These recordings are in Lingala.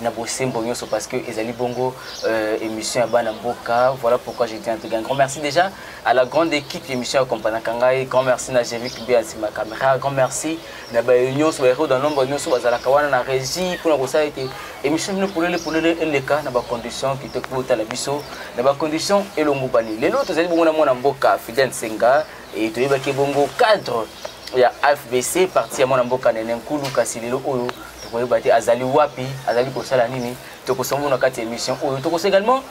na bosembo nyonso parce que ezali bongo euh, émission ya bana mboka voilà pourquoi je dis en tout cas un grand merci déjà à la grande équipe émission ya kompanaka ngai grand merci na jevic be asima caméra grand merci na bayo nyonso baero dans nombre nyonso bazalaka wana na régie mpona kosala ete émission bino polele polele eleka na bacondition kitoko botala biso na bacondition elongobani lelo tozali bongo na mwana mboka fidel nsenga e toyebaki bongo cadre ya afbc parti ya mwana mboka nene nkulu kasi lelo oyo tokoyeba te azali wapi azali kosala nini tokosombo na kati ya émission oyo tokosa également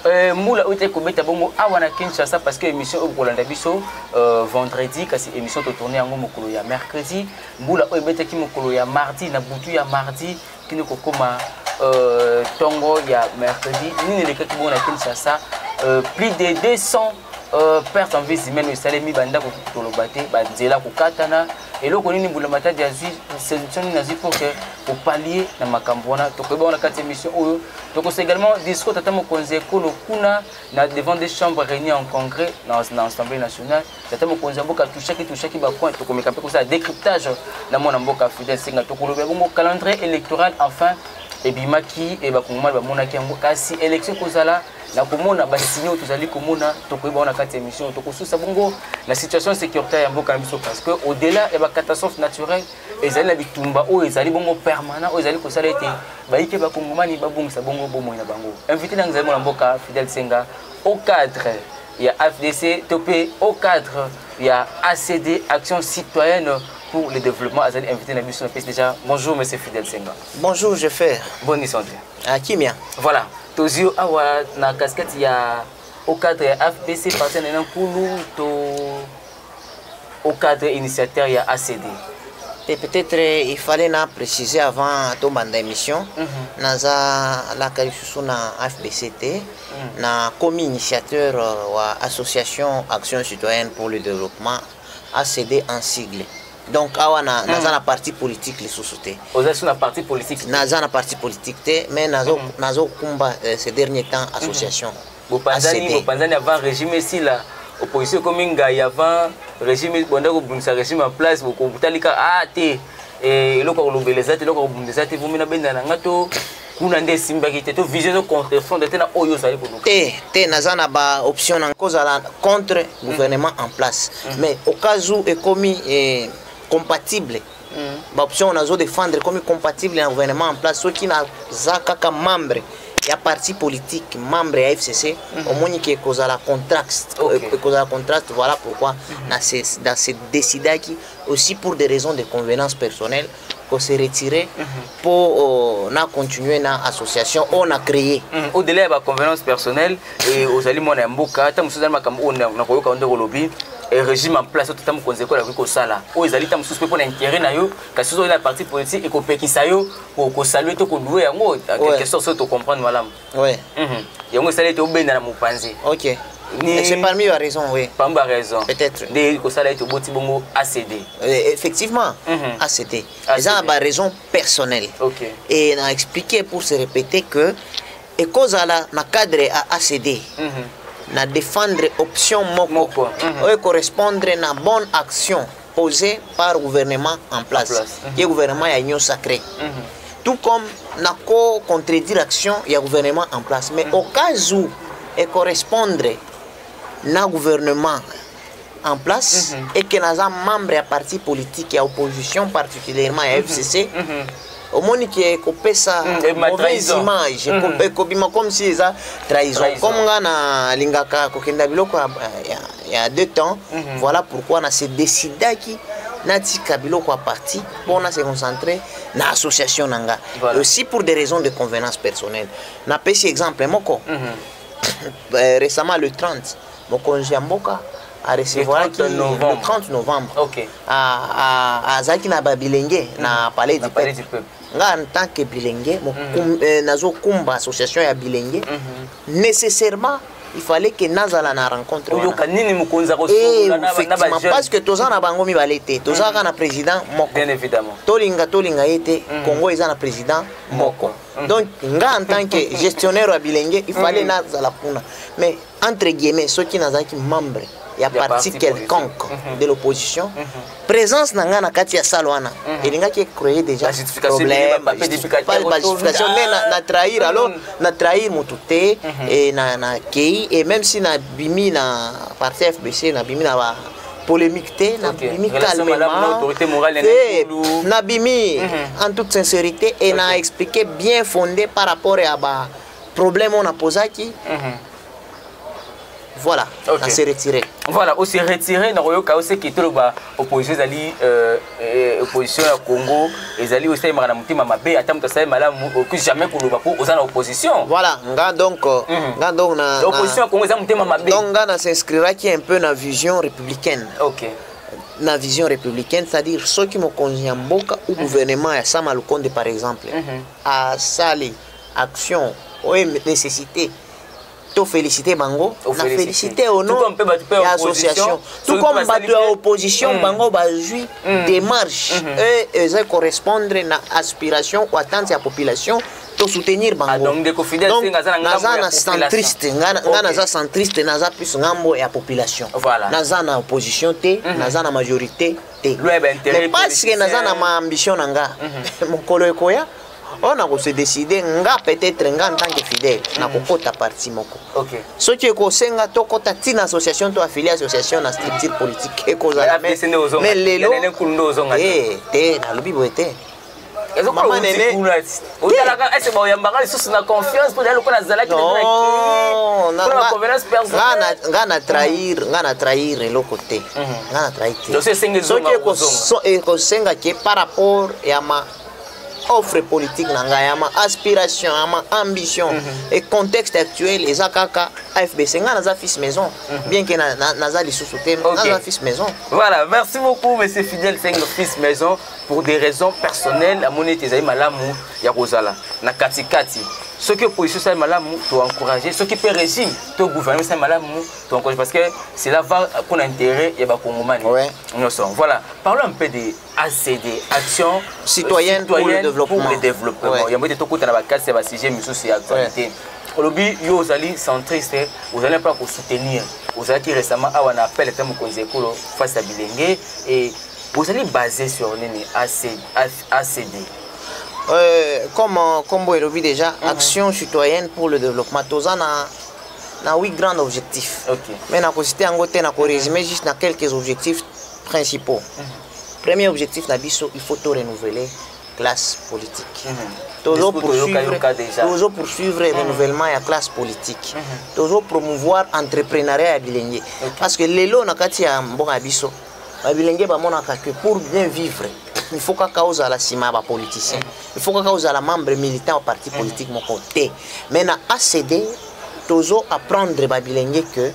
euh, mbula oyo etali kobeta bongo awa na kinshasa parce que émission oyo kolanda biso euh, vendredi kasi émission totourne yango mokolo ya mercredi mbula oyo ebetaki mokolo ya mardi na butu ya mardi kini kokoma euh, tongo ya mercredi nini elekaki bongo na kinshasa euh, plus de 200 euh, perte en vis humaine esalemi bandako toloba te banzela kokatana eloko nini mbulamatadi azwi solution nini azwi pour que opalie na makambo wana tokoyeba wana kati ya émission oyo tokosa également discours tata mokonzi ya ekolo kuna na devant des chambres réunies en congrès na assemblée nationale tata mokonzi ya mboka touchaki touchaki bacoin tokomeka mpe kosala décryptage na mwana mboka fidel senga tokolobela bongo calendrier électoral enfin ebimaki e bakongomani bamonaki yango kasi élection ekozala na komona basigne oyo tozali komona tokoyeba wana kati ya émission tokosusa bongo na situation sécuritaire ya mboka na biso parce que au delà ya bacatastrophe naturelle ezali na bitumba oyo ezali bongo permanent oyo ezali kosala ete bayike bakongomani babongisa bongo bomoi na bango invité na yango ezali mwana mboka fidel senga au cadre ya FDC to pe au cadre ya ACD Action Citoyenne pour le développement azali invité na biso na pesi déjà bonjour monsieur Fidel Senga bonjour je fais bonne santé ah kimia voilà tozwi yo awa na casquette ya au cadre ya fbc partenaire na nkulu to au cadre initiateur ya ACD et peut-être euh, il fallait na préciser avant tobanda émission mm -hmm. naza alaka lisusu na fbct mm -hmm. na commis initiateur euh, wa association action citoyenne pour le développement acd en sigle donc awa na, mm. naza na parti politique lisusu te ozalisi na parti politique naza na parti politique te mais nazokumba nazo, mm -hmm. nazo euh, ces derniers temps association mm -hmm. bopanzani bopanzani avant régime esila opposition ekomi ngai avant régime bonda kobundisa régime en place bokotalika a ah, te eh, eloko kolobela eza te eloko kobunda eza te vomi na benda na nga to kuna nde esimbaki te to vision ezo contrefonde te na oyo ozali koluka te te naza na baoption na kozala contre gouvernement en place mm. mais okazu ekomi eh, compatible mm. ba option nazo défendre comme compatible na gouvernement en place soki naza kaka membre ya parti politique membre ya fcc mm -hmm. omoni ke ekozala contraste okay. Euh, ekozala contraste voilà pourquoi mm -hmm. na se, na se décidaki aussi pour des raisons de convenance personnelle qu'on se retirer mm -hmm. pour euh, na continuer na association on a créé mm -hmm. au delà de la convenance personnelle e, ozali mwana ya mboka ntango mosusu ezali makambo oyo nakoyoka ndenge olobi e, régime en place oyo tata mokonzi ekolo akoki kosala oyo ezali ntango mosusu mpe mpo na intérêt na yo kasi soki na parti politique ekopekisa yo kosalue to kolue yango quelque sorte soki tocomprendre malamu mhm. yango esali ete obenda na mopanzi okay. C'est parmi la raison, oui. Parmi la raison. Peut-être. Des Kosala et Toboti Bongo ACD. Euh, effectivement, mm -hmm. ACD. Ils ont des raisons personnelles. Ok. Et on a expliqué pour se répéter que ekozala na cadre ya acd mm -hmm. na défendre option moko, moko. Mm -hmm. oyo correspondre na bonne action posée par gouvernement en place, place. Mm -hmm. ye gouvernement ya union sacrée mm -hmm. tout comme na ko contredire action ya gouvernement en place mais mm -hmm. au cas où ecorrespondre na gouvernement en place mm -hmm. et que naza membre ya parti politique ya opposition particulièrement ya mm -hmm. fcc mm -hmm. omoni ke ekopesa mm, mauvaise image mm. ekobima comme si eza trahison comme nga nalingaka kokenda biloko ya, ya, ya deux temps mm -hmm. voilà pourquoi na se décidaki natika biloko ya parti mpo na se concentrer na association na nga voilà. aussi pour des raisons de convenance personnelle napesi exemple moko mm -hmm. récemment le 30 mokonzi ya mboka arecevoiraki le 30 novembre okay. azalaki na babilenge mm. na palais du peuple nga en tant que bilenge mm -hmm. eh, nazokumba association ya bilenge mm -hmm. nécessairement il fallait que nazala na rencontre oyoka nini mokonzi akoeffectivement eh, parce que toza na bango mibale te tozalaka mm-hmm. na président moko bien évidemment tolinga tolinga ye te mm-hmm. congo eza na président moko mm-hmm. donc nga en tant que gestionnaire ya bilenge il fallait nazala kuna mais entre guillemets soki nazalaki membre ya parti quelconque mhm. de l'opposition mhm. présence na ngai na kati ya sale wana mhm. elingaki ecreye déjà problème pas justification mais na trahir alors na trahir motu te et na na kei et même si na bimi na parti fbc na bimi na ba polémique te na bimi calmement te na bimi en toute sincérité et na expliqué bien fondé par rapport ya ba problème on a posé qui mhm. voilà okay. se retirer voilà ose retire nakoyoka oseki toloba opposition ezali euh, euh, opposition ya congo ezali osalemaka na motema mabe ata moto asali malamu okoki jamais koloba mpo oza na opposition voilà nga donc euh, mhm. nga donc na opposition ya congo eza motema mabe donc nga na s'inscriraki un peu na vision républicaine okay. na vision républicaine c'est-à-dire soki mokonzi ya mboka ou mhm. gouvernement ya sama lukonde par exemple mhm. asali mm -hmm. action oyo nécessité to féliciter bango na féliciter au nom ya association tout comme bato ya opposition mm. bango bazwi mm. démarche mm-hmm. oyo eza correspondre na aspiration ou attente ya population to soutenir ah, bangonaza na centriste nga naza centriste naza plus ngambo ya population naza na opposition te mhm. naza na majorité te mais parce que naza na maambition na nga mhm. mokolo ekoya oyo oh, nako se décider nga peut-être nga en tant que fidèle mm. nakokota parti moko okay. soki ekosenga tokota ntina association to affilié association na structure politique ekozala mais lelo eh, te nalobi boye te mama nene otalaka ese baoyambaka lisusu na confiance mpo ezali lokola azalaki nga na trahir nga na trahir eloko te nga na trahir te soki ekosenga ke par rapport ya ma offre politique na ngai ya ma aspiration ya ma ambition mm -hmm. et contexte actuel eza kaka afbc ngai naza fils maison mm -hmm. bien que naza na, na, na lisusu te okay. naza fils maison voilà merci beaucoup monsieur fidèle sengo fils maison pour des raisons personnelles amoni ete ezali malamu ya kozala na katikati soki opposition esali malamu toencourage soki mpe régime to gouvernement esali malamu toencourage parce que cela va mpona intérêt ya bakongomani nyonso voilà parlons un peu de acd action citoyenne, citoyenne pour le développement, pour le développement. Ouais. yango ete tokutana bakasi ya basujet misusu ya actualité ouais. olobi yo ozali centriste ozali mpe kosoutenir ozalaki récemment awa na appel ata mokonzi ya ekolo face ya bilenge e ozali basé sur nini acd euh, comme nkombo euh, elobi déjà mm -hmm. action citoyenne pour le développement toza na na huit grand objectif okay. mais nakosite yango te nakorésime juste na quelques objectifs principaux premier objectif na biso il faut to renouveler classe politique tozo poursuivre tozo poursuivre renouvellement ya classe politique tozo promouvoir entrepreneuriat ya bilenge parce que lelo na kati ya mboka ya biso babilenge bamonaka que pour bien vivre il faut kaka ozala nsima ya bapoliticien il faut kaka ozala membre militant ya parti politique moko te mais na acd tozo apprendre babilenge que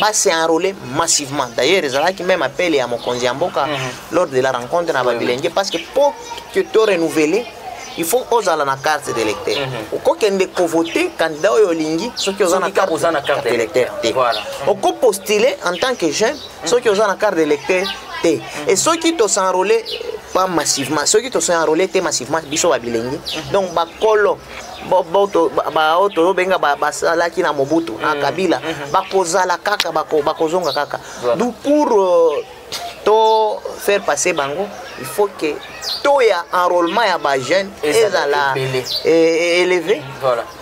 ba se enrôler massivement d'ailleurs ezalaki même appel ya mokonzi ya mboka mm -hmm. lors de la rencontre na babilenge parce que po que to renouveler il faut ozala na carte d'électeur mm -hmm. okokende kovote candidat oyo olingi soki oza na carte, oza na carte d'électeur te voilà. Mhm. okopostule en tant que jeune mhm. soki oza na carte d'électeur te mm -hmm. et soki tosenrôle pas massivement soki tosenrôle te massivement biso babilenge mm -hmm. donc bakolo baoyo toyobenga basalaki na mobutu na mm. kabila mm-hmm. bakozala kaka bakozonga kaka du pour euh, to faire passer bango il faut que taux ya enrôlement ya bajeune ezala e-, élevé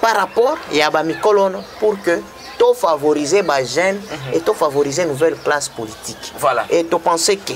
par rapport ya bamikolo wana pour que to favoriser bajeune mm-hmm. et to favoriser nouvelle classe politique voilà. et to penser que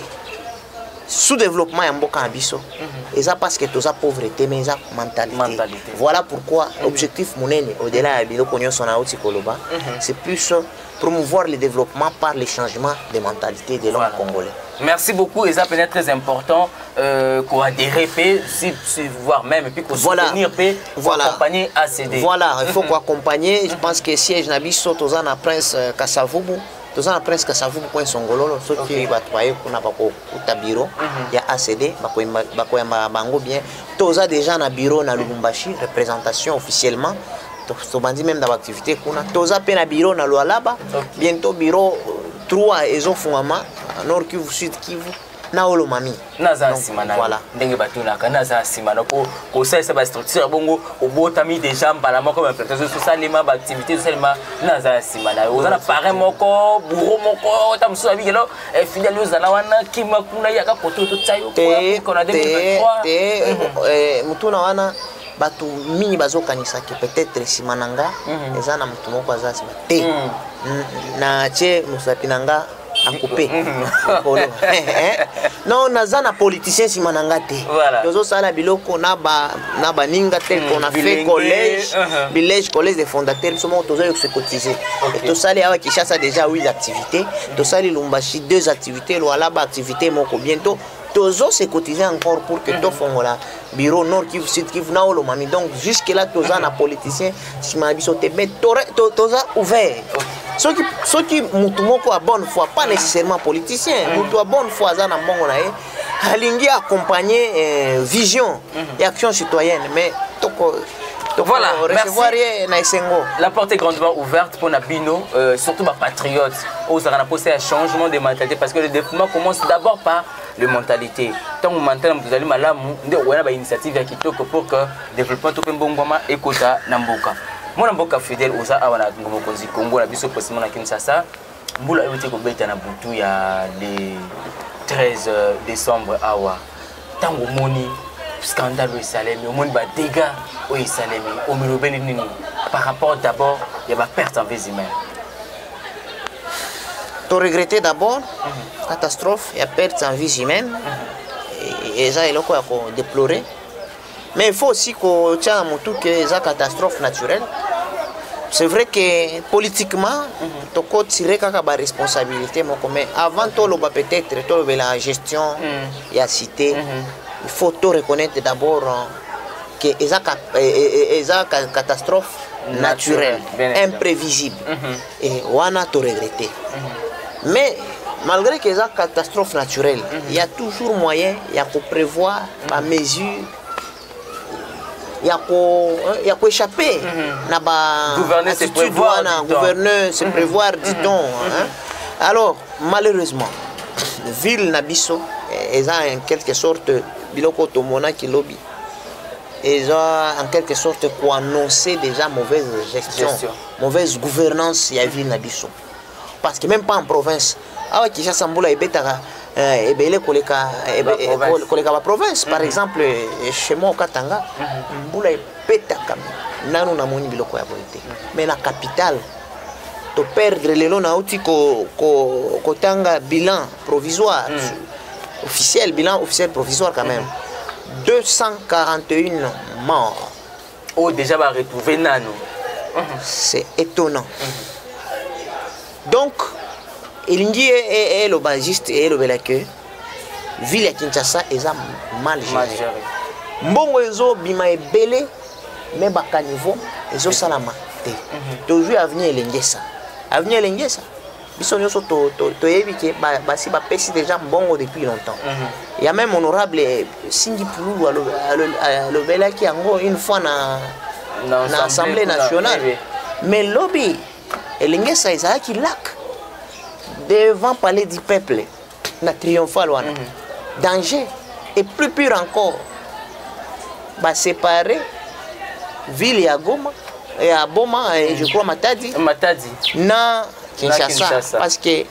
sous développement ya mboka na biso mhm. eza parce que toza pauvre te mais eza mentalité voilà pourquoi mhm. objectif monene au-delà ya biloko nyonso na oti koloba mhm. c'est plus promouvoir le développement par le changement de mentalité de l'homme voilà. congolais merci beaucoup eza mpenza très important euh, koadhere mpe si, si, voire même puis kosoutenir mpe voilà. accompagner acd voilà il faut koaccompagner je pense que siège na biso toza na prince euh, kasavubu toza na presque savuku coin songololo soki bato baye kuna bakokuta biro mhm. ya acd bakoyamba bango bien toza déjà na biro na lubumbashi représentation officiellement tobandi meme na baactivité kuna toza mpe na biro na lualaba bientôt biro 3 ezofungama nord kivu sud kivu na olo mami naza na nsima na voilà. ndenge batunaka naza na nsima na po kosalisa bastructure ya bongo obotami déjà mbala moko baimplantation ezosalema baactivité ezosalema naza na nsima na yo oza na parin moko bouro moko ta mosusu abiki elo eh, filiale ozala wana kima kuna yaka koto totya yo kona 2023 motuna wana bato mingi bazokanisaki peut-être nsima na nga mhm. eza na moto moko aza nsima te mhm. natye mosapi na nga na coupe likolo non naza na politicien nsima na nga te tozosala biloko na baninga tel hmm, qu'on a fait collège uh-huh. village collège de fondateur biso moko toza yokose cotiser tosali awa kinshasa déjà 8 activités tosali lumbashi deux activités lwalaba activité moko bientôt tozo se cotiser encore pour que hmm. tofongola bureau nord kivu sud kivu na oyo lomami donc jusque là toza na politicien nsima na biso te mais toza ouvert soki soki motu moko ya bonne foi pas nécessairement politicien motu ya bonne foi aza na mbongo na ye alingi accompagner euh, vision mhm. ya action citoyenne mais toko voilà, recevoir ye na esengo la porte est grandement ouverte mpo na bino euh, surtout bapatriote oyo ozalaka na posa ya changement de mentalité parce que le développement commence d'abord par le mentalité ntango mental ya moto ezali malamu nde okoya na bainitiative ya kitoko pour que développement to mpe mbongwama ekota na mboka mwana mboka fidèle oza awa na ngo mokonzi congo na biso presimo na kinshasa mbula euti kobeta na butu ya le 13 euh, décembre awa ntango omoni scandale oyo esalemi omoni badégats oyo esalemi omilobeli nini par rapport d'abord ya baperte en vis humaine to regretter d'abord mhm. catastrophe ya perte en vie humaine mhm. eza eloko ya ko déplorer mais il faut aussi kotia na motu ke eza catastrophe naturelle c'est vrai que politiquement mhm. tokotire kaka baresponsabilité moko mais avant toloba peut-être tolobela gestion ya cité il faut to reconnaître d'abord que eza e, e, e, eza catastrophe naturelle imprévisible mhm. et wana to regretter mhm. mais malgré que eza catastrophe naturelle mhm. il y a toujours moyen ya ko prévoir ba mesure ya ko hein, ya ko échapper na ba gouverneur se prévoir dit-on hein. alors malheureusement ville na biso eh, eza en quelque sorte biloko tomonaki lobi eza en quelque sorte koannonce déjà mauvaise gestion, gestion mauvaise gouvernance ya ville na biso parce que même pas en province awa kinshasa mbula ebetaka eh, ebele koleka koleka baprovince par mhm. exemple eh, chez moi okatanga mhm. mbula ebetaka nanu namoni biloko ya boye te mais na capitale to perdre lelo nauti kotanga ko, ko bilan provisoire mm. officiel bilan officiel provisoire quand même mm. 241 morts oyo oh, déjà baretrouve nano mm-hmm. c'est étonnant mm-hmm. donc elingi eloba juste elobela que ville ya kinshasa eza mal géré mbongo ezobima ebele me bacaniveau ezosalama te mhm. tozwi avenir elengesa avenir elengesa biso nyonso toyebi ke basi bapesi déjà mbongo depuis longtemps mhm. ya même honorable eh, singi pululu alobelaki yango une fois na, na, na assemblée nationale mais lobi elengesa ezalaki lac devant palais du peuple na triomphal wana mhm. danger et plus pure encore basépare ville ya goma ya boma et je crois matadi matadi na kinshasa parce que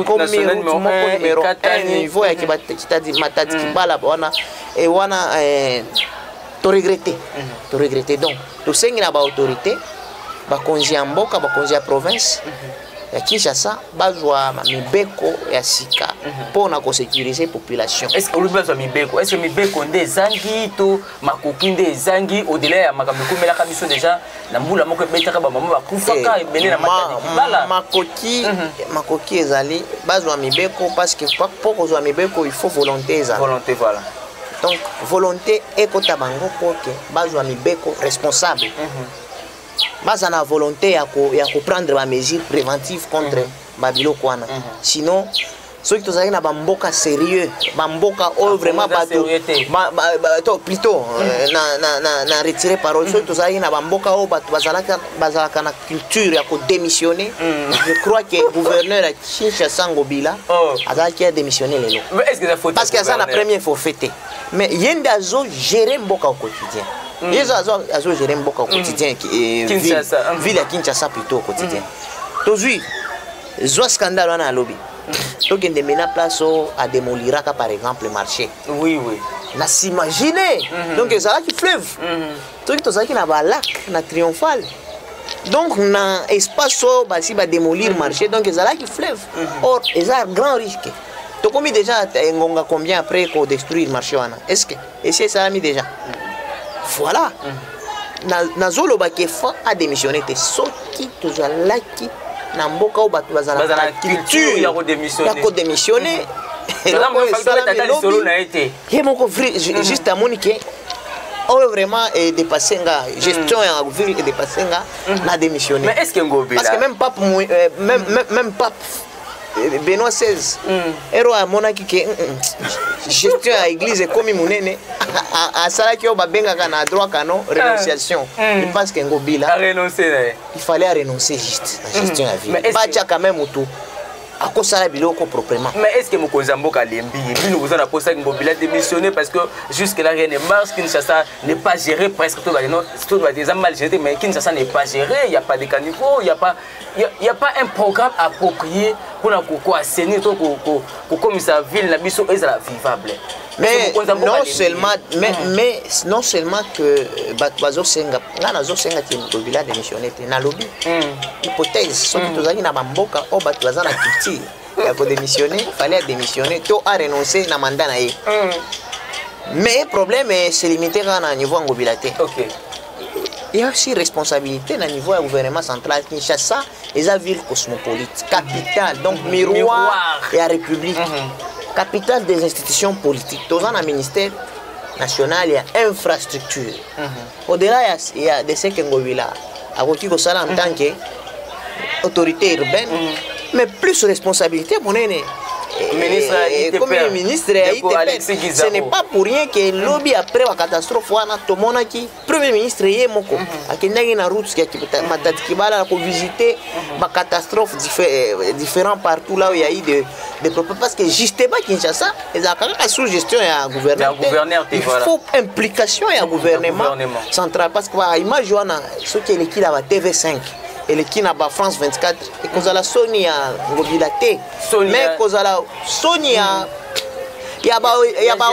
komi route moko numero 1 niveau ya mhm. matadi kibala wana e wana eh, to regretter to regretter donc tosengi na baautorité bakonzi ya mboka bakonzi ya province ya kinshasa bazwa mibeko ya sika mpo na kosécuriser population olobi bazwa mibeko est ce mibeko nde ezangi to makoki nde ezangi au-delà ya makambo ekomelaka biso déjà na mbula moko ebetaka bamama bakufaka eh, ebele na matadikibala makoki mhm. makoki ezali bazwa mibeko parce que mpo kozwa mibeko il faut volonté ezala volonté voilà donc volonté ekota bango mpo ke bazwa mibeko responsable mm -hmm. baza na volonté ya koprendre ko bamesure préventive contre mm -hmm. babiloko wana mm -hmm. sinon soki tozalaki na bamboka sérieux bamboka oyo vraiment bato plutôt euh, na retire parole soki tozalaki na bamboka oyo bato bazalaki bazalaka na culture ya kodémissionne mm. je crois que gouverneur ya kinshasa ngobila oh. azalaki ya démissionne lelo parce que aza na premier forfait te mais ye nde azo gérer mboka au quotidien mm. ye azo gérer mboka au mm. quotidien eh, ville ya kinshasa plutôt au quotidien tozwi zwa scandale wana alobi tokende mena place oyo ademoliraka par exemple marché oui oui na s'imagine mhm. donc ezalaki fleuve mhm. soki tozalaki na balac na triomphale donc na espace oyo basi bademolir mhm. marché donc ezalaki fleuve mhm. or eza grand risque tokomi déjà engonga combien après kodestruire marché wana est ce que esi esalami déjà voilà nazoloba ke fan adémissionne te soki tozalaki na mboka oyo bato bazalaka culture ya kodémissionne ye moko juste amoni ke oyo vraiment edepasse nga gestion mm. ya ville edepasse nga mm. na démissionné mais est ce que ngobela parce que même pape euh, même, même, même pape euh, benoît 16 mm. ero amonaki ke mm, mm, gestion ya église ekomi monene asalaki oyo babengaka na droit canon ah. renonciation il pense ke ngobila il fallait arenoncer juste na gestion ya ville batiaka même motu akosala biloko proprement mais est ce que mokonzi ya mboka alembi bino boza na posa ngobila démissionné parce que jusque là rien ne marche kinshasa n'est pas géré presque tout bade non tout bade eza mal géré mais kinshasa n'est pas géré il y a pas de caniveau il y a pas il y a pas un programme approprié pour na ko assainir to ko ko komisa ville na biso ezala vivable mais non seulement mais, mm. mais non seulement que euh, bato bazosenga ngai nazosenga te tobila démissionne te nalobi mm. hypothèse soki mm. tozalaki na bamboka oyo bato baza na culture ya kodémissionne fallait adémissionne to arenonce na mandat na ye mais problème eh, se limite kaka na niveau ya ngobila te okay. ya aussi responsabilité na niveau ya gouvernement central kinshasa eza ville cosmopolite capitale donc miroir ya république mhm. capitale des institutions politiques toza na ministère national ya infrastructure mhm. au-delà ya, ya de ce que ngobila akoki kosala en tant que autorité urbaine mhm. mais plus responsabilité monene ministre eh, eh, comme ministre ya ITP ce n'est pas pour rien que lobi après la catastrophe wana tomonaki premier ministre ye moko mm -hmm. akendaki na route ya matati kibala na kovisite mm -hmm. bacatastrophe diffé euh, différent partout là où il y a eu de, de propos parce que justement kinshasa ezalaka kaka sous gestion ya gouverneur il voilà. faut implication ya gouvernement, gouvernement central parce que ba image wana soki eleki na ba tv 5 eleki na ba france 24 ekozala soni ya ngobila te mais kozala soni ya hmm. ya ba ya ba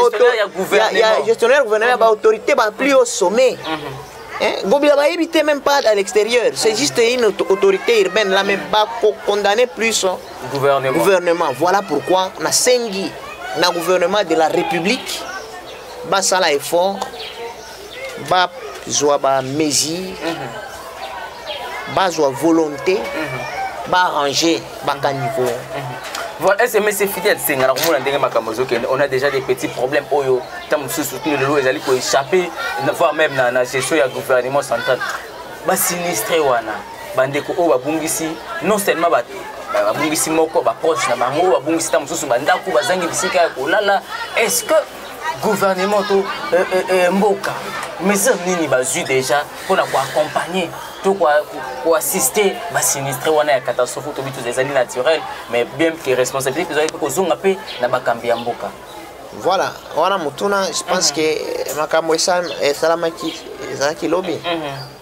ya gestionnaire gouvernement ya ba autorité ba plus au sommet mhm. Gobila ba éviter même pas à l'extérieur, c'est juste une autorité urbaine là même pas condamner plus hein. gouvernement. gouvernement. Voilà pourquoi na sengi na gouvernement de la République basala effort ba zwa ba mesure mhm. ba zwa volonté mhm. ba arranger ba caniveau mhm. voilà sms fidèle senga na komona ndenge makambo ezokende on a déjà des petits problèmes oyo ntango mosusu tino lelo ezali koéchappe voire même na, na gestion ya gouvernement central basinistre wana bandeko oyo babungisi non seulement bato babungisi moko baproche na bango babungisi ntango mosusu bandako bazangi bisika ya kolala est ce que gouvernement to euh, euh, euh, mboka mesure nini bazwi déjà mpo na koaccompagne to koassiste basinistre wana ya catastrophe tobi toza ezali naturel mais bien que responsabilité ezali mpe kozonga mpe na bakambi ya mboka voilà wana motuna je pense mhm. que makambo esalamaki ezalaki lobi mhm.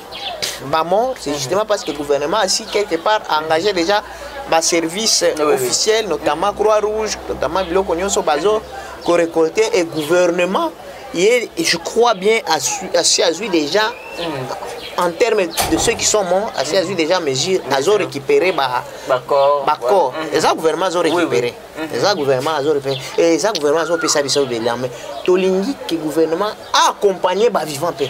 ba morts c'est justement parce que le gouvernement a si quelque part engagé déjà ba service oui, officiel oui. notamment croix rouge notamment biloko nyonso bazo ko récolter et gouvernement et je crois bien à asi azwi déjà mm. en termes de ceux qui sont morts asi azwi déjà mesure azo récupérer ba bacor bacor mm. eza gouvernement azo récupérer oui, oui. eza gouvernement azo récupérer et eza gouvernement azo pesa biso belame tolingi que gouvernement accompagner ba vivant mpe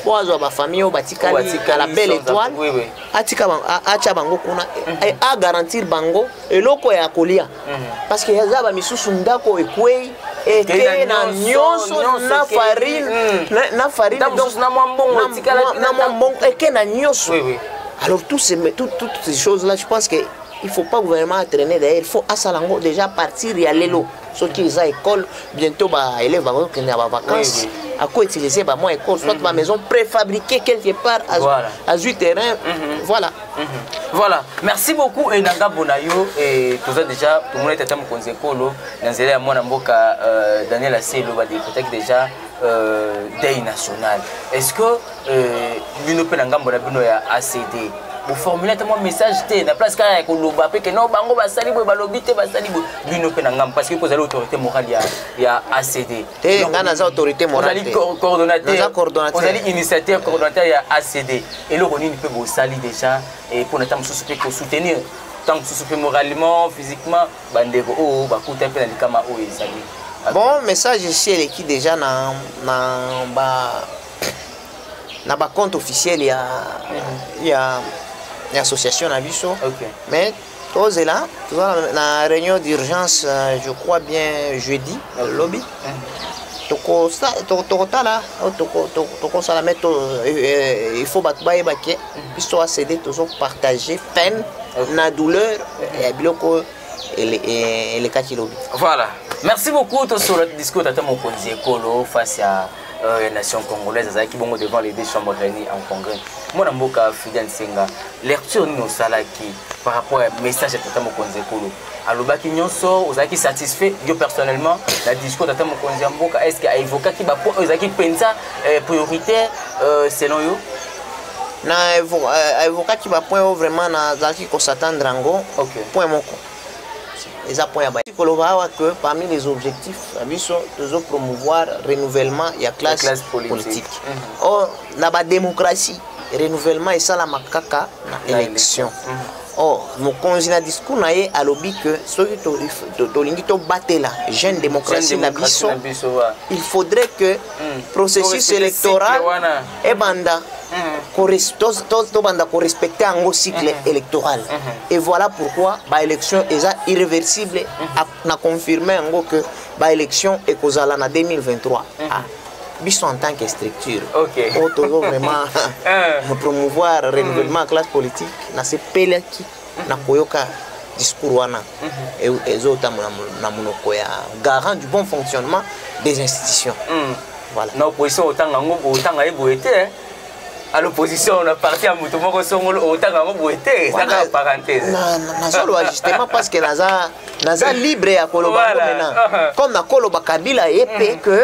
mpo azwa bafamille oyo batikali à la belle étoile atika atya bango kuna mhm. agarantir bango eloko ya kolia mhm. parce que aza bamisusu ndako ekwei ete na nyonso na farine mhm. na farine na mwa mbongo eke na nyonso alors toutes ces, tout, toutes ces choses là je pense que il faut pas gouvernement entraîner d'ailleurs il faut asala yango déjà partir ya lelo soki eza école bientôt ba élève bakokende na ba vacances ako utiliser ba mwa école soit ba mhm. maison préfabriquée quelque part azwi terrain mhm. voilà mhm. voilà merci beaucoup e na ngambo na yo e toza déjà tomona ete ata mokonzi ekolo na nzela ya mwana mboka euh, daniel aselo badeputaki déjà euh, deuil national est ce que euh, bino mpe na ngambo na bino ya acd boformule ata mwa message te na place kaka ya koloba mpe keno bango basali boye balobi te basali boye bino mpe na ngambo parce que kozali autorité morale ya, ya acd te nga naza autorité morale te coordonnateur ozali initiateur coordonnateur ya acd eloko nini mpe bosali déjà mpo na ntango mosusu mpe kosoutenir ntango mosusu mpe moralement physiquement bandeko oyo oh, bakuta mpe na likama oyo ezali bon message esi eleki déjà na, na ba na ba compte officiel ya mm. ya ya association na biso okay. mais tozela toza na réunion d'urgence euh, je crois bien jeudi na lobi mm. tokotala oh, tokosala me euh, euh, il faut bato bayeba ke mm. biso acede tozo partage peine na douleur ya biloko elekaki lobi voilà merci beaucoup tosolola discours tata mokonzi ekolo face ya euh, ya nation congolaise azalaki bongo devant les deux chambres réunies en congrès mwana mboka fidel nsenga lecture nini osalaki par rapport ya message ya tata mokonzi ekolo alobaki nyonso ozalaki satisfait yo personnellement na discours tata mokonzi ya mboka est ce que aevokaki bapoint oyo ezalaki mpenza euh, prioritaire euh, selon yo na aevokaki bapoint oyo vraiment nazalaki kosatandre yango okay. point moko eza point ya ba koloba awa que parmi les objectifs na biso tozo promouvoir renouvellement ya classe, classe politique, politique. Mm -hmm. or na badémocratie renouvellement esalamaka kaka na élection mm -hmm. or mokonzi na discours na ye alobi que soki tolingi to, to, tobatela jeune démocratie na biso il faudrait que mm. processus électoral ebanda tobanda korespecte yango cycle mhm. électoral mhm. et voilà pourquoi baélection eza irréversible mhm. na confirme yango que baélection ekozala na 2023 ah. biso en tant que structure oyo tozo vraiment euh. promouvoir renouvellement ya classe politique nasepelaki na koyoka discours wana mhm. e, ezotambola na monoko ya garant du bon fonctionnement des institutions mhm. voilà na opposition otanga yango otanga ye boye te hein. à l'opposition na parti ya moto moko songolo otanga yango boye te eza kaka parenthèse nazoloba justement parce que naza naza libre ya koloba yango maintenant uh-huh. comme nakoloba kabila ye mpe mhm. que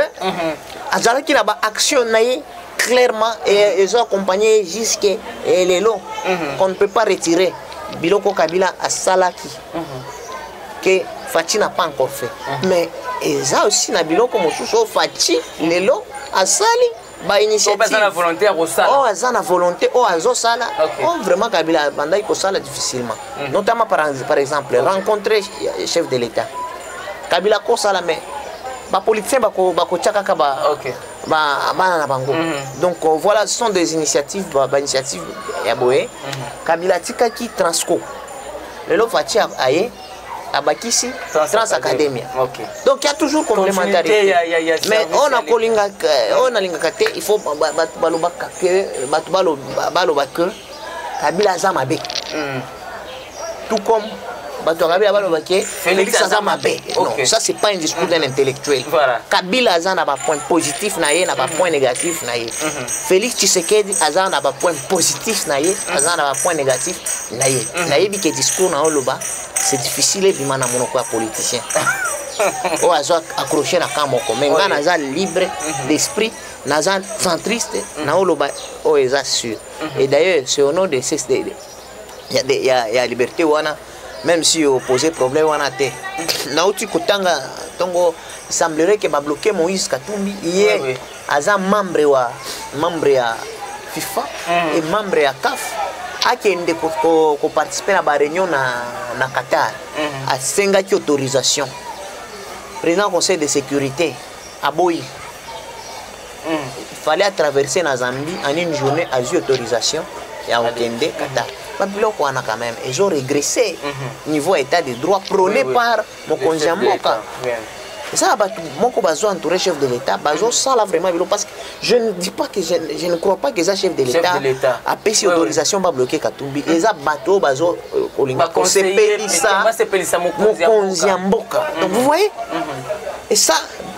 azalaki na baaction na ye clairement et ils ont accompagné jusque et les lots mhm. qu'on ne peut pas retirer biloko kabila à salaki mhm. que Fatih n'a pas encore fait mhm. mais ils ont aussi na biloko mosusu oh, Fatih les lots à sali bainitiative aza na volonté ya kosala oyo oh, aza na volonté oyo oh, azosala oyo oh, vraiment kabila abandaki kosala difficilement mm. notamment par, par exemple okay. rencontre chef de l'état kabila akosala mais bapoliticien bakotia kaka ba okay. bana na bango mhm. donc euh, voilà ce sont des initiatives bainitiative ya boye mhm. kabila atikaki transco lelo faci aye abakisi trans academia donc ya toujours complémentarité mais oyo nakolingaka oyo nalingaka te il faut balobaka ke bato baloba ke kabila aza mabe mhm. tout comme bato ya kabila baloba ke félix aza mabe non ça c'est pas un discours d'un intellectuel voilà. kabila aza na bapoint positif na ye na bapoint mhm. négatif na ye mhm. félix tshisekedi aza na bapoint positif na ye mhm. aza na bapoint négatif na ye nayebi ke discours na oloba c'est difficile ebima na monoko ya politicien oyo azo accroche na camp moko mais ngai naza libre d'esprit naza centriste na oloba oyo eza sûr et d'ailleurs c'est au nom de ces ya, de, ya, ya liberté wana même si opose problème wana te nauti kotanga ntongo semblerait ke babloke moïse katumbi ye oui, oui. aza membre wa membre ya fifa mm. e membre ya caf akende koparticipe na bareunion na, na qatar mm. asengaki autorisation président conseil de sécurité aboyi mm. fallait atraverse na zambie en une journée azwi autorisation ya kokende qatar babiloko wana quand même ezo regresse mhm. niveau ya état de droit prôné par mokonzi ya mboka eza bato moko bazo entouré chef de l'état bazosala vraiment bilo parce que je ne dis pas que je, je ne crois pas que eza chef de l'état apesi autorisation babloke katumbi eza bato oyo bazo euh, kolinga kosepelisa mokonzi ya mboka donc vous voyez mhm. et ça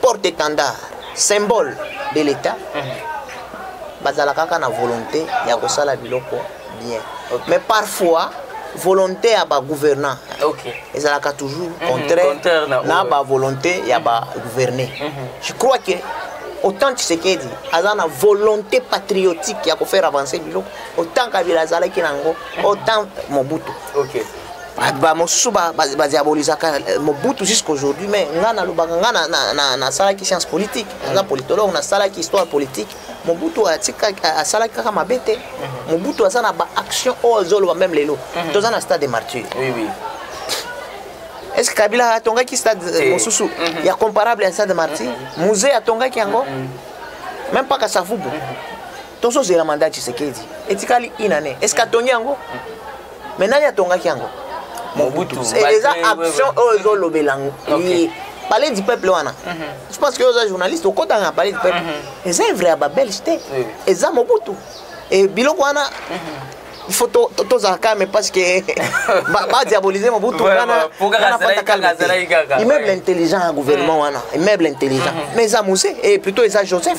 porte étendard symbole de l'état mhm. bazala kaka na volonté ya kosala biloko bien okay. mais parfois volonté ya bagouvernant okay. ezalaka toujours mhm, contraire mm -hmm. na, na bavolonté ya bagouverner mm -hmm. je crois que autant tshisekedi aza na volonté patriotique ya kofaire avancer biloko autant kabila azalaki na yango mhm. autant mobutu okay. Ah, bamosusu badiabolisaka euh, mobutu jusqu'aujourd'hui mais ngai nalobaka ngai nasalaki science politique naza politologue nasalaki histoire politique mobutu asalaki kaka mabe te mhm. mobutu aza na baaction oyo oh, azoloba meme lelo mhm. toza na stade de martyr est ce que kabila atongaki stade euh, mosusu mhm. ya comparable ya stade de martyr musée atongaki yango meme pas kasavubu tozozela mandat tshisekedi etikali inane est ce que atongi yango mais nani atongaki yango mobutu eh, eza action oyo ezolobela ye palais du peuple wana mhm. je pense que oza journaliste okotaka na palais du peuple mhm. eza evre ya babelge te eza mobutu e biloko wana mhm. il faut tozala calme parce que badiabolise mobutu wana immeuble intelligent ya gouvernement wana immeuble intelligent mais eza mose e plutôt eza joseph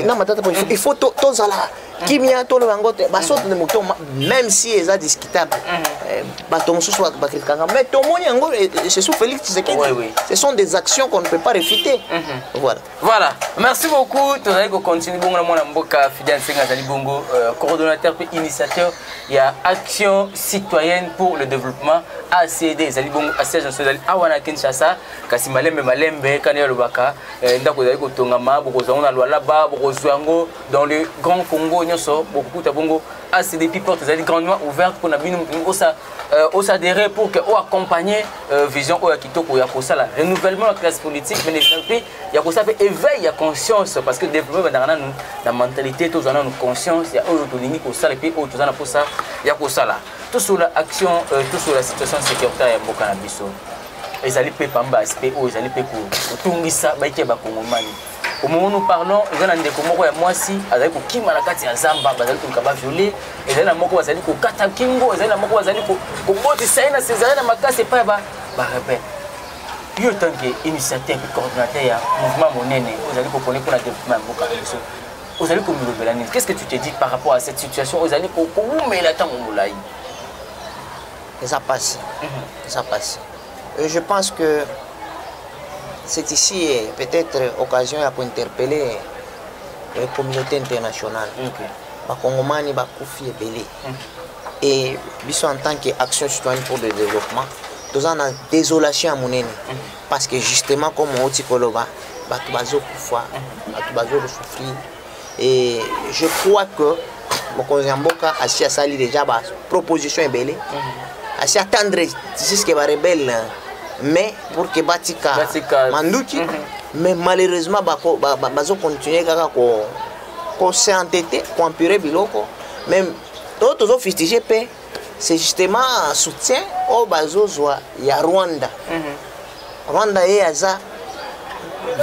na matata po il faut tozala kimia toloba yango te basoto nde moto même si eza discutable mm. eh, bato mosusu bakritikanga mais tomoni yango eh, eh, c'est sous félix tshisekedi ce sont des actions qu'on ne peut pas réfuter mm-hmm. voilà voilà merci beaucoup tozali kocontinue bongo na mwana mboka fidel nsenga azali bongo euh, coordonnateur mpe initiateur ya action citoyenne pour le développement acd ezali bongo asiège naso ezali awa na kinshasa kasi malembe malembe kani alobaka ndako ezali kotongama bokozwa yango na lwalaba bokozwa yango dans le grand congo nyonso bokokuta bongo asi depuis porte ezali grandement ouverte mpona bino osa euh, osadere pour que oaccompagne euh, vision oyo ya kitoko ya kosala renouvellement ya classe politique mais mpe ya kosala mpe éveil ya conscience parce que développement ebandaka nanu na mentalité tozwa nanu conscience ya oyo tolingi kosala mpe oyo toza na mposa ya kosala tosolola action euh, tosolola situation sécuritaire ya mboka na biso ezali mpe pamba aspect oyo ezali mpe kotungisa baike bakongomani omongo nous parlons eza na ndeko moko ya mwasi azali kokima na kati ya zamba bazali koluka baviole ezali na moko bazali kokata kingo ezali na moko bazali kobotisa ye na sezali na makasi epai ya barebele yo ntanke initiateur mpe coordinateur ya mouvement monene ozali kopone mpo na développement ya mboka na biso ozali komilobela nini qu'est ce que tu te dis par rapport à cette situation ozali kowumela ntango molai eza mpasi mhm. eza mpasi Euh, je pense que c'est ici eh, peut-être occasion ya kointerpelle eh, communauté internationale bakongomani bakufi ebele et biso en tant que action citoyenne pour le développement toza na désolation ya monene parce que justement comme outi koloba bato bazokufa bato bazokosouffrir et je crois que mokonzi ya mboka asi asali déjà ba proposition ebele mhm. asi attendre jusque ba rebelle mais pour que batika manduki mhm. mais malheureusement bazo continuer kaka ko ko s'entêter ko empirer biloko même to tozo fustiger pe c'est justement soutien au bazozwa ya Rwanda mm -hmm. Rwanda ye aza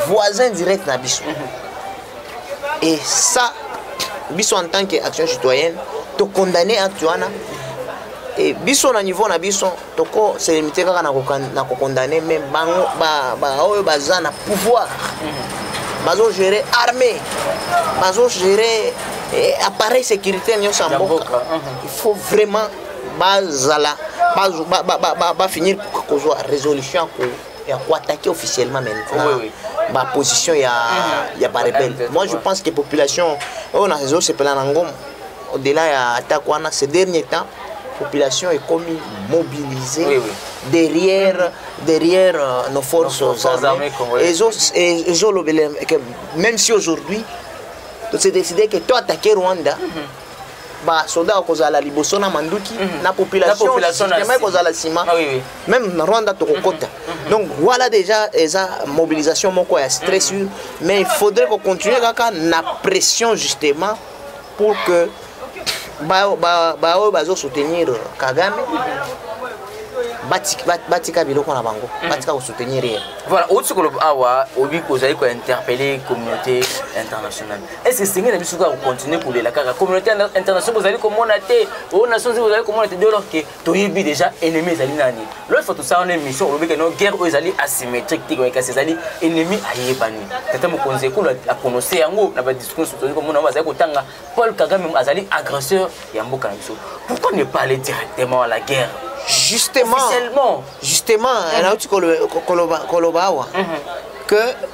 voisin direct na biso. Mhm. Et ça biso en tant que action citoyenne to condamner acte wana et biso na niveau na biso toko se limiter kaka na ko condamner mais bango ba ba oyo baza na pouvoir. Mhm. bazo gérer armée bazo gérer eh, appareil sécurité nyonso ya mboka il faut vraiment bazala bafinir ba, ba, ba, kozwa résolution ya koattaquer officiellement maintenant oui, oui. baposition ya, mhm. ya barebelle moi je pense que population oyo nazosepela na ngomo au-delà ya attaque wana ce dernier temps population ekomi mobilisée oui, oui. derrière derrière euh, nos forces nos forces armées ezolobela même si aujourd'hui c'est décidé que toi attaquer Rwanda mm -hmm. ba soda akozala liboso na manduki mhm. na populationema ekozala nsima ah meme na rwanda tokokota mhm. mhm. donc voilà déjà eza mobilisation moko ya stress mais il faudrait kocontinue kaka na pression justement pour que baoyo bazosoutenir kagame batika biloko na bango mhm. batika kosoutenir ye voilà outi koloba awa obi kozali kointerpele communauté internationale est ce que esengeli na biso kaka kocontinue kolela kaka communauté internationale bozali komona te oyo oh, nation zii bozali komona te dolor ke toyebi déjà ennemi ezali nani loi fois tosala wana émission olobi ke no guerre oyo ezali asymétrique te kasi ezali ennemi ayebani tata mokonzi ekolo aprononce yango na badiscours tozali komona yango bazali kotanga paul kagame azali agresseur ya mboka na biso pourquoi ne pas aller directement à la guerre justement justement nauti koloba awa que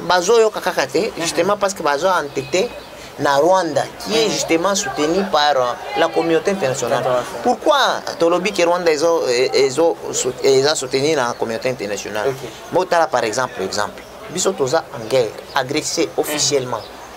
bazoyoka kaka te mhm. justement parce que bazo entete na rwanda qui est mhm. justement soutenu par euh, la communauté internationale pourquoi tolobi ke rwanda eza soutenu na communauté internationale botala par exemple exemple biso toza en guerre agressé officiellement mm -hmm.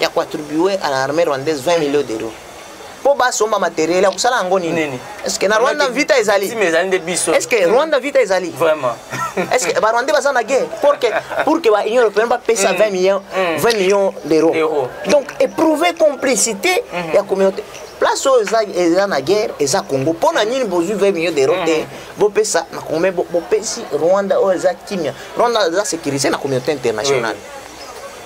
ya koattribue à la armée rwandaise 20 millions d'euros mpo basomba materiel ya kosala yango nini estce na rwanda vita ezali estce rwanda vita ezali vraiment estce barwandais baza na guerre pour que pour que ba union européenne bapesa 20 millions 20 millions d'euros donc éprouver complicité ya communauté place oyo eza na guerre eza congo mpo na nini bozwi 20 millions d'euros te bopesa na congo me bopesi rwanda oyo eza kimia rwanda eza sécurisé na communauté internationale oui.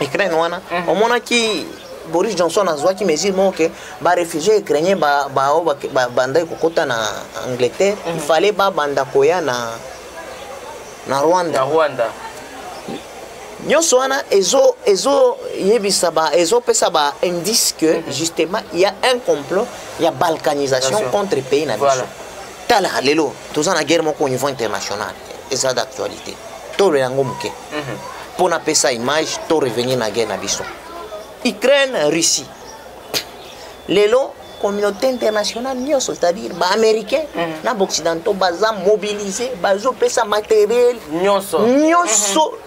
ukraine wana mhm. omonaki boris johnson azwaki mesure moko ke barefugie ukrainien baoyo babandaki kokota na angleterre mhm. fale babanda koya na na rwanda rwanda nyonso wana ezoyebisa ezopesa ba indice que mhm. justement il y a un complot ya balkanisation contre pays na biso tala lelo toza na guerre moko au niveau international eza d'actualité tolola yango moke mhm. mpo napesa image to revenir na guerre na biso ukraine russie lelo communauté internationale nyonso c'est-à-dire baaméricain mhm. na baoccidentaux baza mobilise bazopesa matériel nyonso nyonso mhm.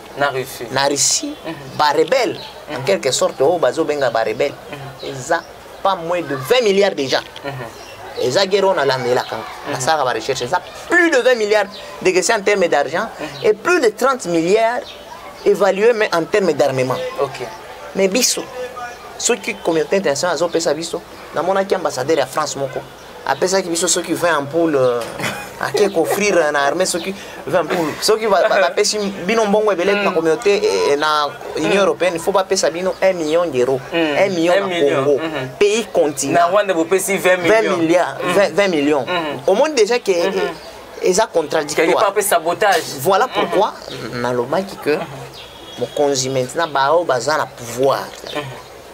na russie na russie mm -hmm. barebele mm -hmm. en mhm. quelque sorte oyo oh, bazobenga barebele mm -hmm. eza pas moins de 20 milliards déjà mm -hmm. eza guerre oyo nalandelaka mm -hmm. nasalaka barecherche eza plus de 20 milliards de question en terme d'argent mm -hmm. et plus de 30 milliards évalué mais en terme d'armement okay. mais biso soki communauté internationale azopesa biso namonaki ambassadeur ya france moko apesaki biso soki 20 ampoule euh, ake koffrire na armée soki 20 ampoule soki bapesi bino mbongo ebele na mm. communauté eh, eh, na union mm. européenne il faut bapesa bino 1 million d'euro 1 mm. million na congo mm-hmm. pays continent 20 milliards 20 millions mm-hmm. omoni déjà que mm-hmm. eza contradictoire voilà pourquoi nalobaki que mokonzi maintenant baoyo baza na pouvoir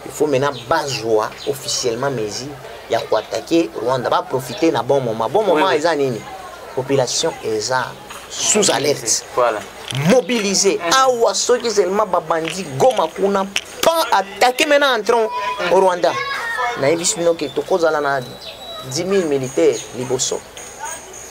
il faut maintenant bazwa officiellement mesure ya koatake rwanda baprofite na bon moment bon moment oui, oui. eza nini population eza sous alerte voilà. mobilise mm. awa soki seulement babandi goma kuna pas attaquer maintenant entrant au rwanda nayebisi bino ke tokozala na 10 000 militaire liboso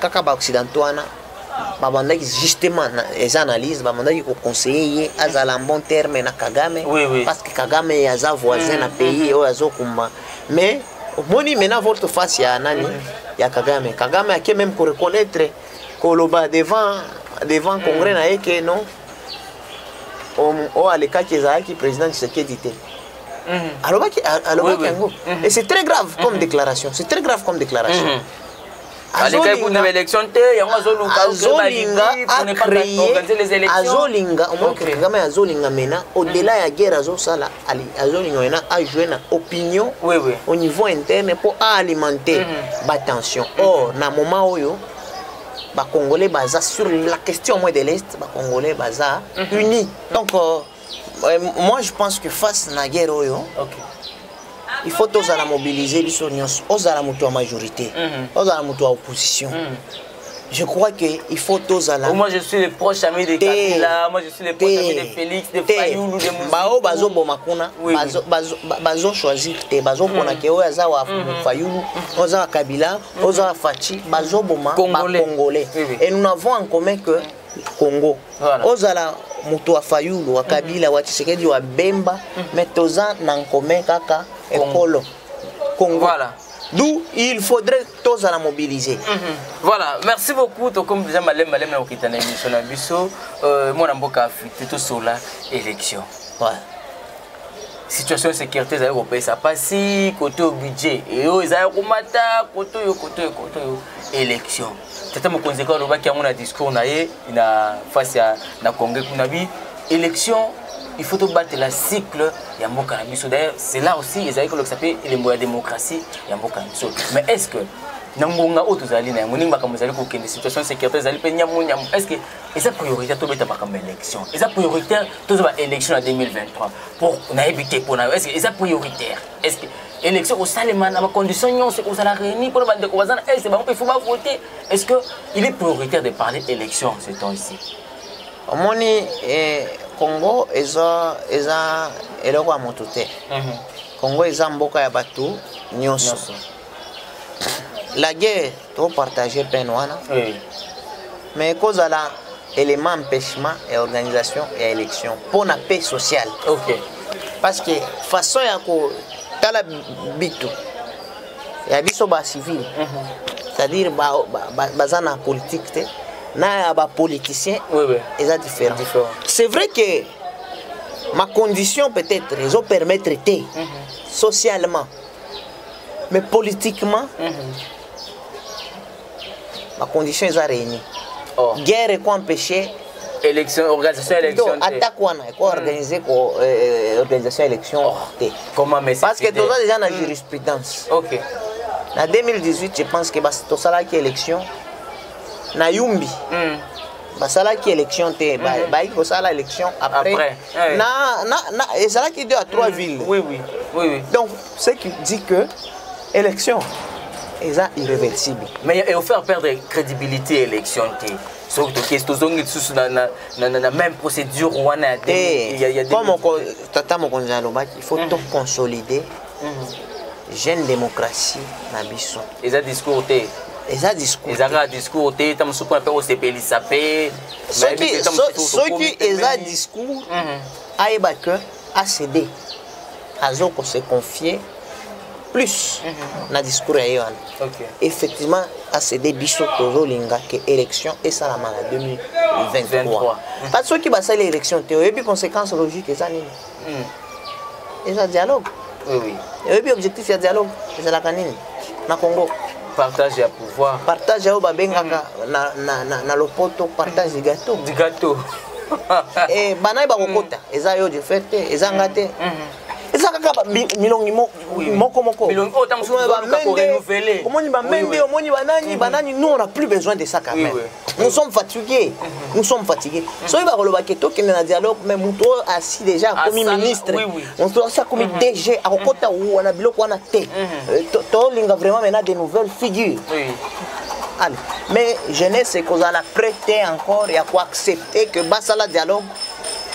kaka ba occidentaux wana babandaki justement les analyses babandaki koconseille ye azala en bon terme na kagame oui, oui. parce que kagame aza voisin na pays oyo azokumba mais omoni maintenant votre face ya nani ya kagame kagame ake même koreconnaitre koloba devant devant congrès na ye ke non oyo alekaki ezalaki président tshisekedi te mhm. alobaki alobaki yango et c'est très grave comme mhm. déclaration c'est très grave comme déclaration mhm. alekaki kuna baélection te yango azoluka azolinga omoni kagame azolinga mena au-delà ya guerre azosala azolinga mena ajoue na opinion au niveau interne mpo aalimenter mhm. batension mhm. or na moment oyo bacongolais baza sur la question moins de l'est bacongolais baza mhm. unis donc euh, Euh, moi je pense que face na guerre oyo okay. il faut tozala mobiliser biso nyonso ozala moto ya majorité mm -hmm. ozala moto ya opposition mm -hmm. je crois que il faut tozala moi je suis le proche ami de Kabila moi je suis le proche ami de Félix de Fayulu de Musi bao bazo boma kuna bazo bazo bazo choisir te bazo pona mm. ke oyo aza wa mm-hmm. Fayulu mm-hmm. oza Kabila mm-hmm. oza Fatshi bazo boma ba congolais et nous n'avons en commun que congo voilà. ozala moto wa fayulu wa kabila wa tshisekedi wa bemba mm. mais toza na nkome kaka ekolo congo voilà. d'où il faudrait tozala mobiliser mm -hmm. voilà merci beaucoup tokomi deja maleme maleme ya kokita na émission na biso euh, mwana mboka afrite tosola élection voilà. situation ya sécurité ezali kopesa mpasi kote oyo budget eyo ezali komata kote oyo kote oyo kote oyo élection tata mokonzi eko alobaki yango na discours na ye na face ya na congrès kuna bi élection il faut tobatela cycle ya mboka na biso d'ailleurs c'est là aussi ezali kolokisa mpe elembo ya démocratie ya mboka na biso mais est ce que na ngonga oyo tozali na yango ndenge makambo ezali kokende situation sécurité ezali mpe nyamu nyamu est ce que eza prioritaire tobeta makambo ya élection eza prioritaire tozwa ba élection na 2023 mpo nayebi te mpo na yo est ce que eza prioritaire est ce que élection kosalema na bacondition nyonso ekozala réuni mpona bandeko baza na est bango mpe fo bavote est ce que il est prioritaire de parler élection ce temps ici omoni eh, congo eza eza eloko ya moto te mhm. congo eza mboka ya bato nyonso la guerre topartage peine wana oui. mais ekozala élément empêchement ya organisation ya élection mpo na paix sociale okay. parce que façon ya kotala bitu ya biso bacivile mm -hmm. c'est-à-dire baza ba, ba, ba na politique te na ya bapoliticien oui, oui. eza différent, différent. c'est vrai que ma condition peut-être ezopermettre te mm -hmm. socialement mais politiquement mm -hmm. ma condition eza réunie oh. guerre eko empêcher élection organisation élection te attaque wana eko organiser ko euh, euh, organisation élection oh. te comment mais parce que toza déjà na hmm. jurisprudence OK na 2018 je pense que tosalaki élection na Yumbi mm. basalaki élection te mm. bayaki kosala élection après, après. Eh. na, na, na ezalaki deux à trois mm. villes oui, oui. Oui, oui. donc ce qui dit que élection eza irréversible mais et faire perdre crédibilité élection te soki tokesi tozongi lisusu na même procédure wana ya eh, comme tata mokonzi alobaki il faut mm. toconsolider mhm. jeune démocratie na biso eza discours te eza discours eza kaka discours te ta mosusu mpona mpe kosepelisa mpe soki eza discours mhm. ayeba ke acd azo kose confier plus mhm. na discours ya ye wana effectivement acd biso tozolinga ke élection esalama na 2023 kasi soki basali élection te oyebi conséquence logique eza nini hmm. eza dialogue oui, oui. oyebi objectif ya dialogue ezalaka nini na congo partage ya pouvoir partage oyo babengaka na, na, na, na lopoto partage du gâteau du gâteau eh, banaye bakokota mm. eza yo du fait te eza nga te mm. mm-hmm. eza kaka milongi moko mokoomoni bamende omoni banani banani mm-hmm. nous on a plus besoin de ça quand même nous sommes fatigués nous sommes fatigués soki bakoloba ke tokende na dialogue mais moto oyo asi déjà akomi ministre moto asi akomi mhm. dg akokota mhm. wana biloko wana te mhm. euh, tolinga vraiment maintenant de nouvelles figures allez mais jeunesse ekozala prêt te encore ya koaccepter que basala dialogue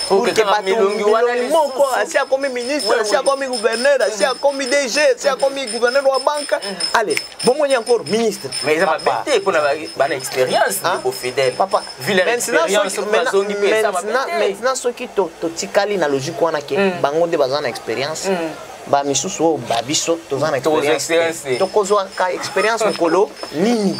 oke batumbi wana moko asi akomi ministre asi akomi gouverneur asi akomi dg asi akomi gouverneur wa banka ale bomoni encore ministre mais eza mabe te mpo na bana expérience ndeko fidèle maintenant soki totikali na logique wana ke hmm. bango nde baza na expérience hmm. bamisusu oyo babiso toza na expérience tokozwaka expérience mokolo nini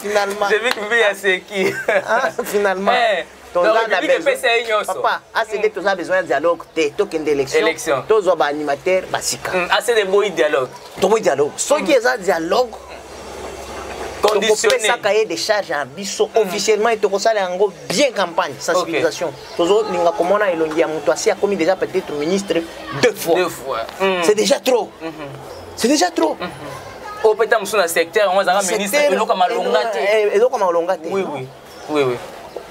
finalement j'ai vu que mbi aseki ah, finalement eh, papa acd mm. toza besoin ya dialogue te tokende élection tozwa baanimateur basika mm, acd eboyi dialogue toboyi dialogue soki mm. eza dialogue tokopesaka ye décharge ya biso officiellement ete tokosala yango bien campagne sensibilisation tozolinga komona elongi ya moto asi akomi déjà peut-être ministre deux fois c'est déjà trop mm-hmm. c'est déjà trop mm -hmm. oyo peta mosusu na secteur yango azalaka ministre eloko malonga te eh, eloko malonga te oui oui oui oui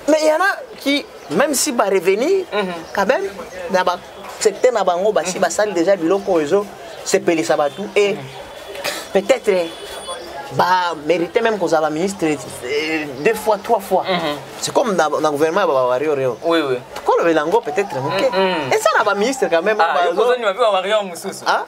mais il y en a qui même si ba revenir mm -hmm. quand même na ba secteur na bango basi mhm. basali déjà biloko oyo ezo sepelisa bato et mhm. peut-être ba mérité même qu'on soit ministre euh, deux fois trois fois mm -hmm. c'est comme dans le gouvernement ya bawario rio oui oui kolobela yango peut-être moke eza na baministre quand même ah, wario mosusu ah,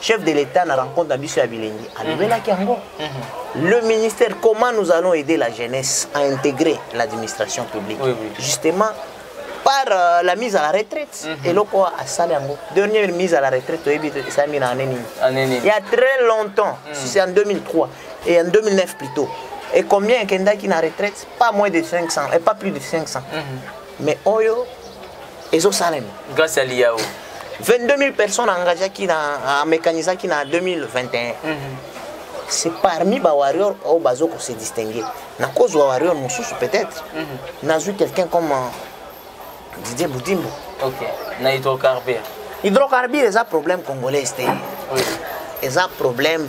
chef de l'État na rencontre na biso ya bilengi alobelaki mhm. yango mhm. le ministère comment nous allons aider la jeunesse à intégrer l'administration publique oui, oui. justement par euh, la mise à la retraite mhm. eloko mm -hmm. asala yango dernière mise à la retraite toyebi esalami na année nini il y a très longtemps mm -hmm. c'est en 2003 et en 2009 plutôt et combien ekendaki na retraite pas moins de 500 et pas plus de 500 mm -hmm. mais oyo ezosalema grâce ya liyao 22 000 personnes engageaki na amécanisaki na 2021 mm -hmm. c'est parmi bawarrior oyo bazo kose distingue nakozwa warrior mosusu peut-être mm -hmm. nazwi quelqu'un comme euh, didie budimbo okay. na hydrocarbure hydrocarbure eza problème congolaise te oui. eza problème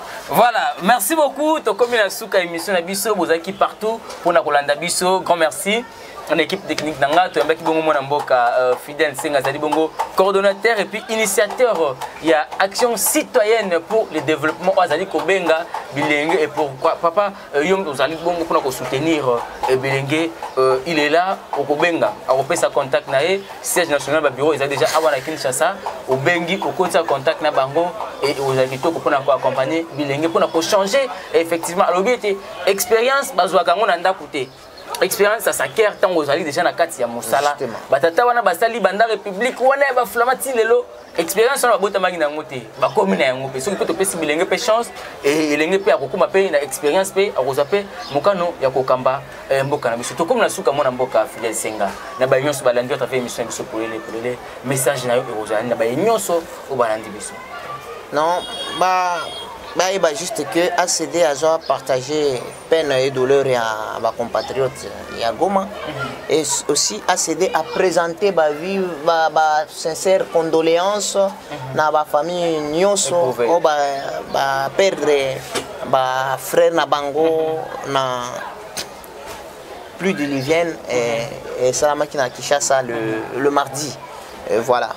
Voilà, merci beaucoup. Tokomi la souka émission na biso, bozaki partout pour na kolanda biso. Grand merci. En équipe technique nanga to yambaki bongo mwana mboka euh, Fidel Senga zali bongo coordonnateur et puis initiateur euh, il y a action citoyenne pour le développement azali kobenga bilenge et pourquoi papa euh, yo ozali bongo mpona kosoutenir ebelenge euh, il est là okobenga akopesa contact na ye siège national babureau ezali déjà awa na kinshasa obengi okotisa contact na bango e ozali kitoko mpona koaccompagne bilenge mpona kochange effectivement alobi ete expérience bazwaka yango na ndako te expérience ya saker ntango ozali déjà na kati ya mosala batata wana basali banda république wana ya baflama ti lelo expérience wana babotamaki na yango te bakomi na yango mpe soki mpe topesi bilenge mpe chance e, elenge mpe akokoma mpe na expérience mpe akozwa mpe mokano ya kokamba e, mboka na biso tokomi na suka mwana mboka fidel senga na baye nyonso balandi yo travers émission ya biso polele polele message na yo ekozala na baye nyonso oyo balandi biso non ba bayeba juste que acd azwa partage peine et douleur ya ba compatriotes ya Goma mhm. et aussi a cédé à présenter ba vive ba, ba sincère condoléances mm -hmm. na ba famille nyoso o ba, ba perdre ba frère na bango mm -hmm. na plus de l'hygiène et, mhm. et salamaki na Kinshasa le, le mardi et voilà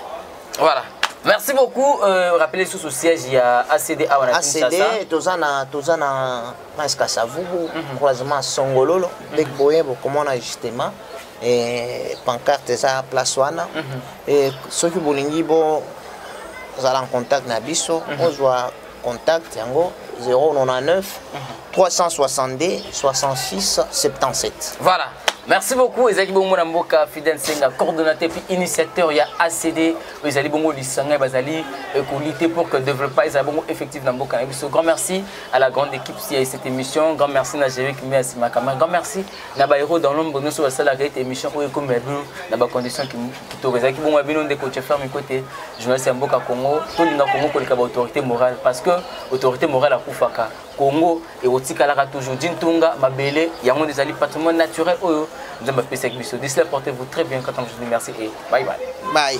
voilà merci beaucoup euh, rappelez sous au siège il y a ACD à ACD tozana tozana prince kasavubu croisement songololo nde boye bokomona justement eh, pancarte eza place wana eh, soki bolingi bozala en contact na biso ozwa contact yango 099 362 66 77 voilà merci beaucoup ezalaki bongo na mboka fidel senga coordonnateur puis initiateur ya acd oyo ezali bongo lisanga bazali kolite pour que développement ezala bongo effectif na mboka na biso grand merci à la grande équipe si à cette émission. Grand merci na Jérémy Kimbe à Sima Kamara. Grand merci na ba héros dans l'ombre nous sur la cette émission où comme bino na ba conditions qui qui to qui bon bino de coach faire mes côtés journaliste en Boka Congo to linga Congo ko lika autorité morale parce que autorité morale à Koufaka Congo et otikalaka toujours Dintunga mabele yango ezali patrimoine naturel oyo nzamba pesa biso. D'ici là portez-vous très bien quand on vous dit merci et Bye bye. Bye.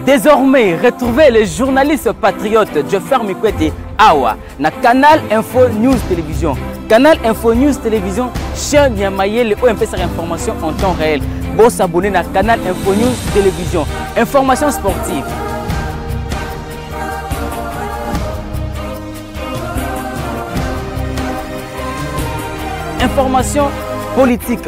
Désormais, retrouvez le journaliste patriote Joffer Mikwete Awa na Canal Info News Télévision. Canal Info News Télévision, chaîne ya mayele oyo mpesaka information en temps réel. Bon s'abonner na Canal Info News Télévision. Information sportive, information politique.